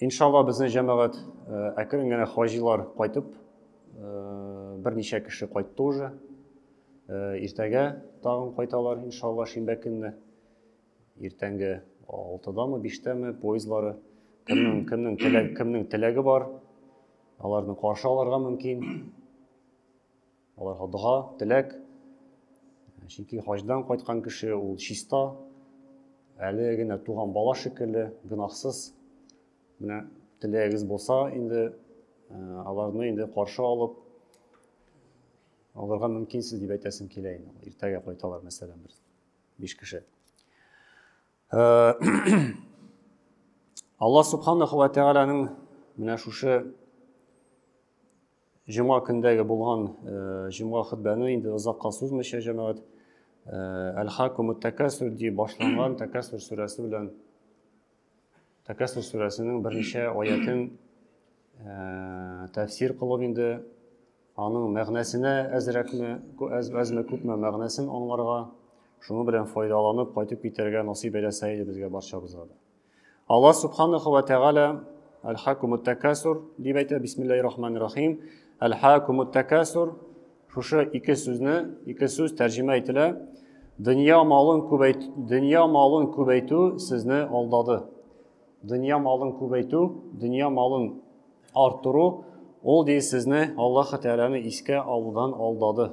Иншалла безнең җәмәгать әкрен генә хаҗилар кайтып, берничә кеше кайтты уже. Иртәгә тагын кайталар, иншалла, шимбә көнне. Иртәнге 6-дамы, 5-тәме поездлары. Кемнең, кемнең теләге, кемнең теләге бар, аларны каршы алырга мөмкин. Аларга дога, теләк. Чөнки хаҗдан кайткан кеше ул чиста, әле генә туган бала шикелле, гөнаһсыз. Менә теләгегез булса, инде аларны инде каршы алып, аларга мөмкинсез дип әйтәсем килә инде. Иртәгә кайталар, мәсәлән, бер биш кеше. Алла субханаху ва тәгаләнең менә шушы Җомга көндәге булган җомга хөтбәне инде озакка сузмыйча җәмәгать Әл-Хакум тәкәсүр дип башланган тәкәсүр сүрәсе белән тәкәсүр сүрәсенең берничә аятен тәфсир кылып инде аның мәгънәсенә әзрәкме, әзме күпме мәгънәсен аңларга, шуның белән файдаланып кайтып китәргә насыйп әйләсә иде безгә барчабызга да. Алла субханаху ва тәгалә Аль-Хакумут Такасур дип әйтә, бисмиллахи рахманир рахим. Аль-Хакумут Такасур шушы ике сүзне, ике сүз тәрҗемә ителә. Дөнья малын күбәйтү, дөнья малын күбәйтү сезне алдады. Дөнья малын күбәйтү, дөнья малын арттыру, ул ди сезне Аллаһ Тәгаләне искә алудан алдады.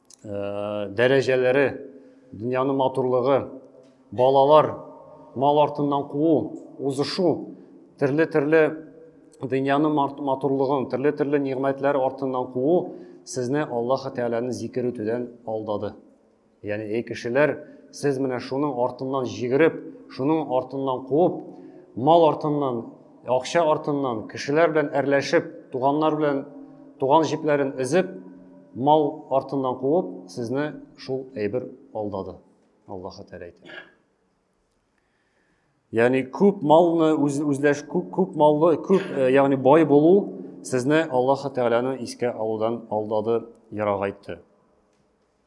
Э, дәрәҗәләре дөньяның матурлыгы балалар мал артыннан куу узышу төрле төрле дөньяның матурлыгын төрле төрле нигъмәтләр артыннан куу сезне аллаһы тәгаләне зикер итүдән алдады яғни ей кешеләр сіз менә шуның артыннан жигереп шуның артыннан қуып мал артыннан Акча артыннан, кешеләр белән әрләшеп, туганнар белән туган җепләрен өзеп, мал артыннан куып, сезне шул әйбер алдады. Аллаһы Тәгалә әйтә. Ягъни күп малны үз үзләш күп күп маллы, күп э, ягъни бай булу сезне Аллаһ Тәгаләне искә алудан алдады, ярагайтты.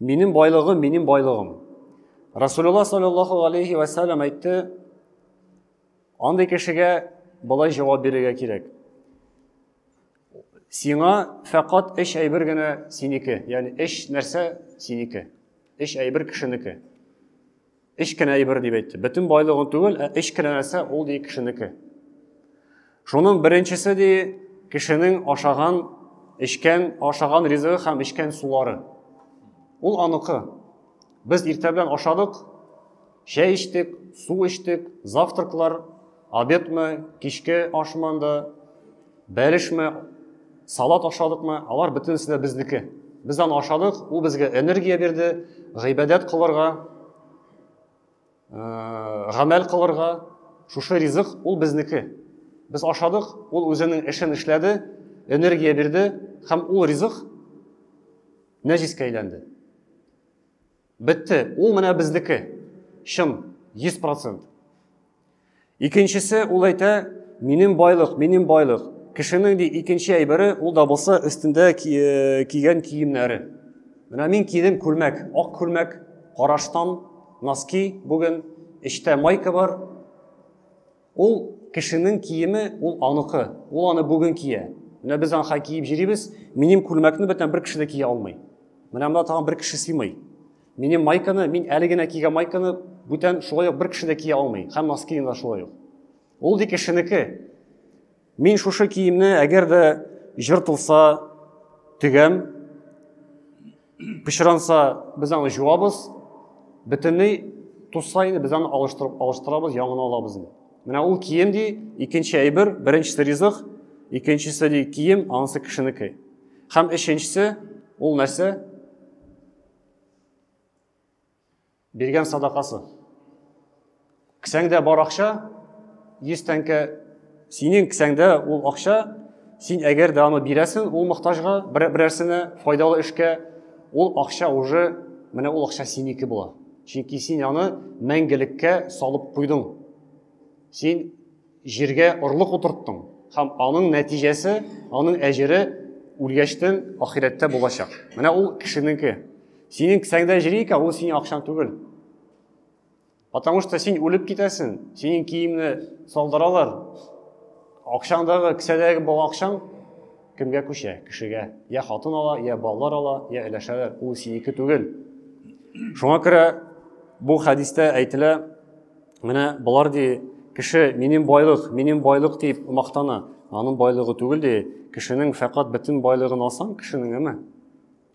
Минем байлыгым, минем байлыгым. Расулулла саллаллаху алейхи ва саллям әйтте, андый кешегә былай җавап бирергә кирәк. Сиңа фәкать эш әйбер генә синеке, ягъни эш нәрсә синеке. Эш әйбер кешенеке. Өч кенә әйбер дип әйтте. Бөтен байлыгын түгел, ә өч кенә нәрсә ул ди кешенеке. Шуның беренчесе ди кешенең ашаган, эчкән, ашаган ризыгы һәм эчкән сулары. Ул аныкы. Без иртә белән ашадык, чәй эчтек, су эчтек, завтраклар, Обедмы, кичке ашмы анда, бәлешме, салат ашадыкмы, алар бөтенесе дә безнеке. Без аны ашадык, ул безгә энергия бирде, гыйбадәт кылырга, гамәл кылырга. Шушы ризык ул безнеке. Без ашадык, ул үзенең эшен эшләде, энергия бирде һәм ул ризык нәҗискә әйләнде. Бетте, ул менә безнеке. Чын, 100%. Икенчесе ул әйтә, минем байлык, минем байлык. Кешенең ди икенче әйбере ул да булса өстендә э, кигән киемнәре. Менә мин кидем күлмәк, ак күлмәк, караштан, носки бүген, эчтә майка бар. Ул кешенең киеме, ул аныкы, ул аны бүген кия. Менә без анха киеп җирибез, минем күлмәкне бөтен бер кеше дә кия алмый. Менә монда тагын бер кеше сыймый. Минем майканы, мин әле генә кигән майканы бүтән шулай ук бер кеше дә кия алмый. Һәм носкины да шулай ук. Ул ди кешенеке. Мин шушы киемне әгәр дә җыртылса тегәм, пычранса без аны жуабыз, бөтенләй тусса инде без аны алыштырып алыштырабыз, яңаны алабыз. Менә ул кием ди, икенче әйбер, беренчесе ризык, икенчесе ди кием, анысы кешенеке. Һәм өченчесе ул нәрсә? Биргән садакасы. Кесәңдә бар акча, 100 тәңкә, синең кесәңдә ул акча, син әгәр дә аны бирәсең ул мохтажга, берәрсенә, файдалы эшкә, ул акча уже, менә ул акча синеке була. Чөнки син аны мәңгелеккә салып куйдың. Син Җиргә орлык утырттың һәм аның нәтиҗәсе, аның әҗере үлгәчтен ахирәттә булачак. Менә ул кешенеке. Синең кесәңдә җири икән, ул синең акчаң түгел. Потому что син үлеп китәсең, синең киемне салдыралар. Акчаңдагы, кесәдәге бал акчаң кемгә күчә? Кешегә. Я хатын ала, я балалар ала, я өләшәләр. Ул синеке түгел. Шуңа күрә бу хәдистә әйтелә, Менә болар ди, кеше минем байлык, минем байлык дип мактана. Аның байлыгы түгел ди, кешенең фәкать бөтен байлыгын алсаң, кешенең әмә.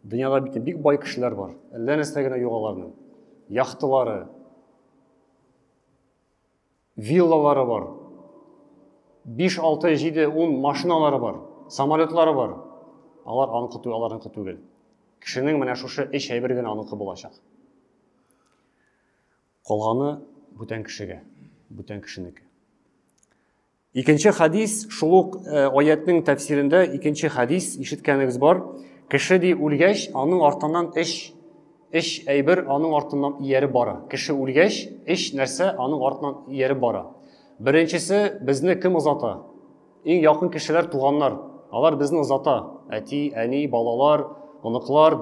Дөньяда бит бик бай кешеләр бар. Әллә нәрсә генә юк аларның. Яхтылары, виллалары бар. 5, 6, 7, 10 машиналары бар, самолетлары бар. Алар аныкы түгел, аларныкы түгел. Кешенең менә шушы эш әйбер генә аныкы булачак. Калганы бүтән кешегә, бүтән кешенеке. Икенче хадис, шул ук э, аятның тәфсирендә икенче хадис ишеткәнегез бар. Кеше ди үлгәч, аның артыннан эш эш әйбер аның артыннан ияреп бара. Кеше үлгәч, эш нәрсә аның артыннан ияреп бара. Беренчесе безне кем озата? Иң якын кешеләр туганнар. Алар безне озата. Әти, әни, балалар, оныклар,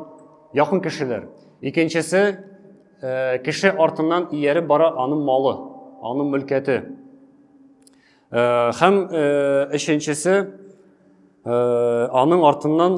якын кешеләр. Икенчесе э, кеше артыннан ияреп бара аның малы, аның мөлкәте. Э, һәм э, өченчесе э, аның артыннан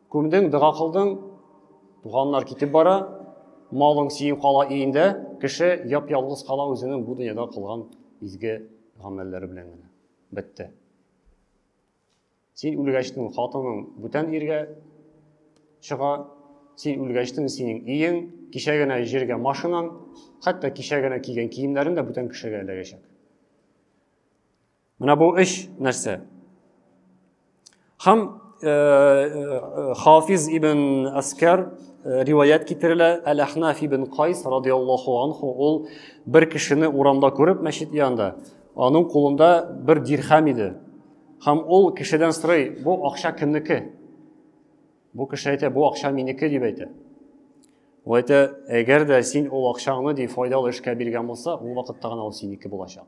Күмдең, дога кылдың, туганнар китеп бара, малың сиең кала иендә, кеше яп-ялгыз кала үзенең бу дөньяда кылган изге гамәлләре белән генә. Бетте. Син үлгәчтең, хатының бүтән иргә чыга, син үлгәчтең, синең иең, кичә генә җиргә машинаң, хәтта кичә генә кигән киемнәрең дә бүтән кешегә эләгәчәк. Менә бу өч нәрсә. Хам э, э, Хафиз ибн Аскар э, риваят китерелә, Әл-Ахнаф ибн Кайс радиаллаху анху ул бер кешене урамда күреп мәчет янында, аның кулында бер дирхам иде. Хам ул кешедән сорый, бу акча кемнеке? Бу кеше әйтә, бу акча минеке дип әйтә. Ул әйтә, әгәр дә син ул акчаңны ди файдалы эшкә биргән булса, ул вакытта гына ул синеке булачак.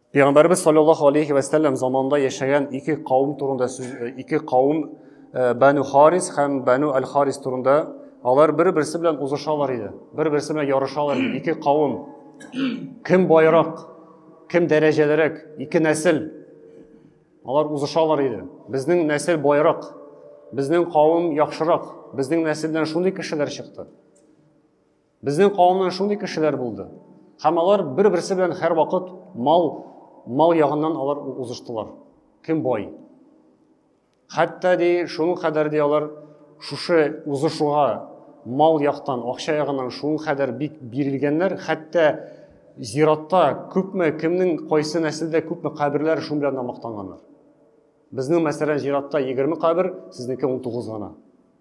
Пәйгамбәрбез саллаллаһу алейхи ва сәлләм заманында яшәгән ике кавым турында сүз э, ике кавым э, Бану Харис һәм Бану Аль Харис турында алар бер-берсе белән узышалар иде. Бер-берсе белән ярышалар иде. Ике кавым кем байрак, кем дәрәҗәлерәк, ике нәсел алар узышалар иде. Безнең нәсел байрак, безнең кавым яхшырак, безнең нәселдән шундый кешеләр чыкты. Безнең кавымнан шундый кешеләр булды. Һәм алар бер-берсе белән һәрвакыт мал мал ягыннан алар узыштылар. Кем бай? Хәтта ди, шуның кадәр ди алар шушы узышуга мал яктан, акча ягыннан шуның кадәр бик бирелгәннәр, хәтта зиратта күпме, кемнең кайсы нәселдә күпме каберләр шуның белән мактанганнар. Безнең мәсәлән зиратта 20 кабер, сезнеке 19 гына.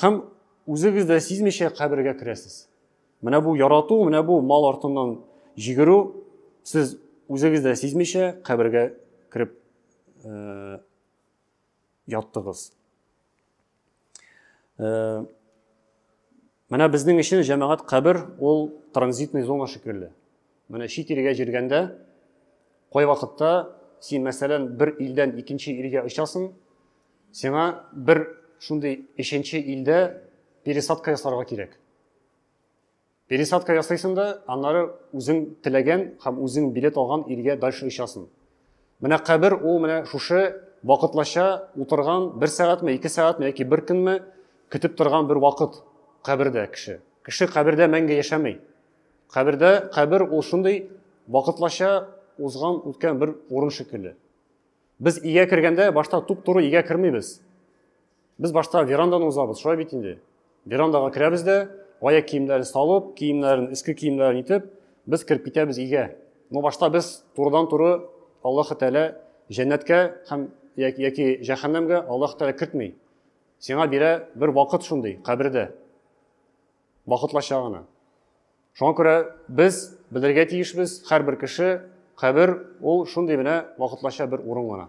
Һәм үзегез дә сизмичә кабергә керәсез. Менә бу ярату, менә бу мал артыннан җигерү, сез үзегез дә сизмичә кабергә кереп э, яттыгыз. Э, Менә безнең өчен җәмәгать кабер ул транзитный зона шикелле. Менә чит илгә җиргәндә кай вакытта син мәсәлән бер илдән икенче илгә очасың, сиңа бер шундый өченче илдә пересадка ясарга кирәк. Пересадка ясыйсың да, аннары үзең теләгән һәм үзең билет алган илгә дальше очасың. Менә кабер ул менә шушы вакытлача утырган бер сәгатьме, ике сәгатьме яки бер көнме көтеп торган бер вакыт кабердә кеше. Кеше кабердә мәңге яшәми. Кабердә кабер ул шундый вакытлача узган үткән бер урын шикелле. Без игә кергәндә башта туп-туры игә кермибез. Без башта верандан узабыз, шулай бит инде. Верандага керәбез дә, аяк киемнәрен салып, киемнәрен, иске киемнәрен итеп, без кереп китәбез өйгә. Но башта без турыдан-туры Аллаһ Тәгалә җәннәткә һәм яки җәһәннәмгә Аллаһ Тәгалә кертми. Сиңа бирә бер вакыт шундый, кабердә. Вакытлача гына. Шуңа күрә без белергә тиешбез, һәрбер кеше кабер ул шундый менә вакытлача бер урын гына.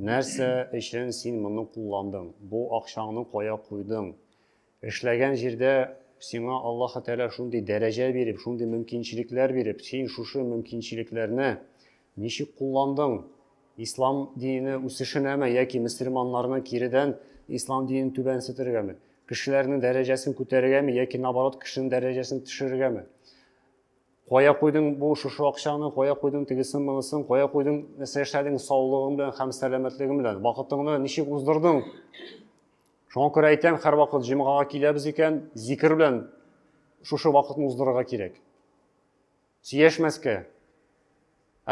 Нәрсә өчен син моны кулландың? Бу акчаңны кая куйдың? Эшләгән җирдә сиңа Аллаһы Тәгалә шундый дәрәҗә биреп, шундый мөмкинчелекләр биреп, син шушы мөмкинчелекләрне ничек кулландың? Ислам дине үсешенәме яки мөселманнарны киредән ислам динен түбәнсетергәме? Кешеләрнең дәрәҗәсен күтәрергәме яки наоборот кешенең дәрәҗәсен төшерергәме? Кая куйдың бу шушы акчаны, кая куйдың тегесен монысын, кая куйдың, нәрсә эшләдең саулыгың белән һәм сәламәтлегең белән, вакытыңны ничек уздырдың? Шуңа күрә әйтәм, һәрвакыт җомгага киләбез икән, зикер белән шушы вакытны уздырырга кирәк. Сөяшмәскә,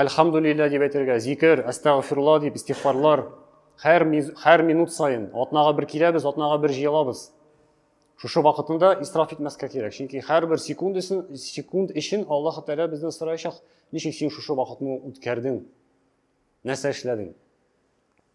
Әлхәмдүлиллә дип әйтергә, зикер, әстәгъфирулла дип, истигъфарлар. Һәр, һәр минут саен, атнага бер киләбез, атнага бер җыелабыз. Шушы вакытында исраф итмәскә кирәк, чөнки һәрбер секунд өчен, секунд өчен Аллаһ Тәгалә бездән сораячак, ничек син шушы вакытны үткәрдең, нәрсә эшләдең?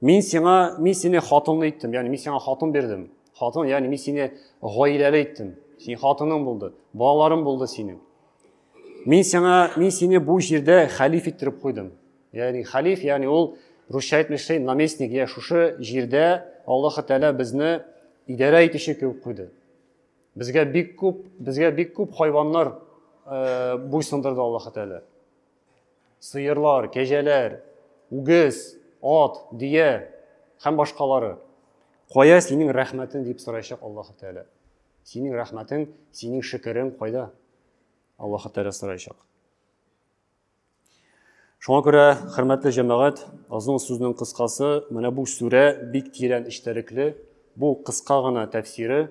Мин сиңа, мин сине хатынлы иттем, ягъни мин сиңа хатын бирдем. Хатын, ягъни мин сине гаиләле иттем. Син хатының булды, балаларың булды синең. Мин сиңа, мин сине бу җирдә халиф иттереп куйдым. Ягъни халиф, ягъни ул русча әйтмешли наместник, я шушы җирдә Аллаһ Тәгалә безне идарә итүче кебек куйды. Безгә бик күп, безгә бик күп хайваннар э, буйсындырды Аллаһ Тәгалә. сыерлар, кәҗәләр, үгез, ат, дөя һәм башкалары. Кая синең рәхмәтең дип сорайчак Аллаһу Тәгалә. Синең рәхмәтең, синең шөкерең кайда? Аллаһу Тәгалә сорайчак. Шуңа күрә, хөрмәтле җәмәгать, озын сүзнең кыскасы, менә бу сүрә бик тирән эчтәлекле, бу кыска гына тәфсире.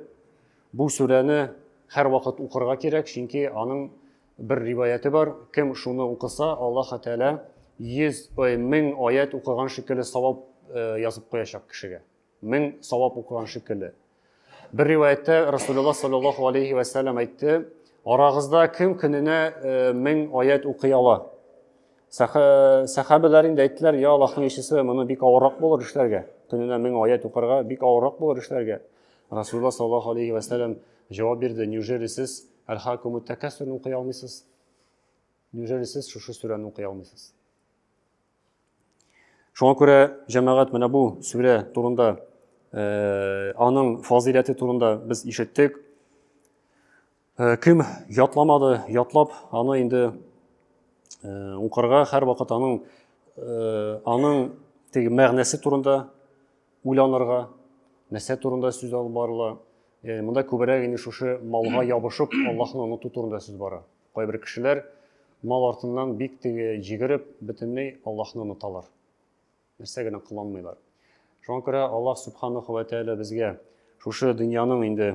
Бу сүрәне һәрвакыт укырга кирәк, чөнки аның Бер риваяте бар, кем шуны укыса, Аллаһы Тәгалә 100 ой, 1000 аят укыган шикелле савап э, язып куячак кешегә. 1000 савап укыган шикелле. Бер риваятта Расулуллаһ саллаллаһу алейхи ва саллям әйтте, арагызда кем көненә 1000 э, аят укый ала? Сахабалар инде әйттеләр, я Аллаһның илчесе, моны бик авыррак булыр эшләргә. Көненә 1000 аят укырга бик авыррак булыр эшләргә. Расулуллаһ саллаллаһу алейхи ва саллям җавап бирде, неужели сез Әлхакумут тәкәссүрне укый алмыйсыз? Неужели сез шушы сүрәне укый алмыйсыз? Шуңа күрә җәмәгать менә бу сүрә турында, э, аның фазыйләте турында без ишеттек. Э, кем ятламады, ятлап аны инде э, укырга һәр вакыт аның аның теге мәгънәсе турында уйланырга, нәрсә турында сүз алып барыла, Э, монда күбрәк инде шушы малга ябышып аллаһны оныту турында сүз бара кайбер кешеләр мал артыннан бик теге җигереп бөтенләй аллаһны оныталар нәрсә генә кыланмыйлар шуңа күрә аллаһ субханаху вә тәәлә безгә шушы дөньяның инде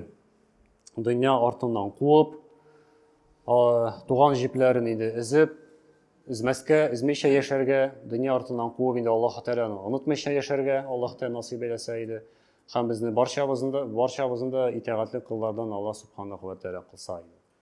дөнья артыннан куып туган җепләрен инде эзеп эзмәскә эзмичә яшәргә дөнья артыннан куып инде аллаһ тәәләне онытмыйча яшәргә аллаһ тәәлә насыйп әйләсә иде Һәм безне барчабызны да, барчабызны да итәгатьле коллардан Аллаһ Субханаһу вә Тәгалә кылса иде.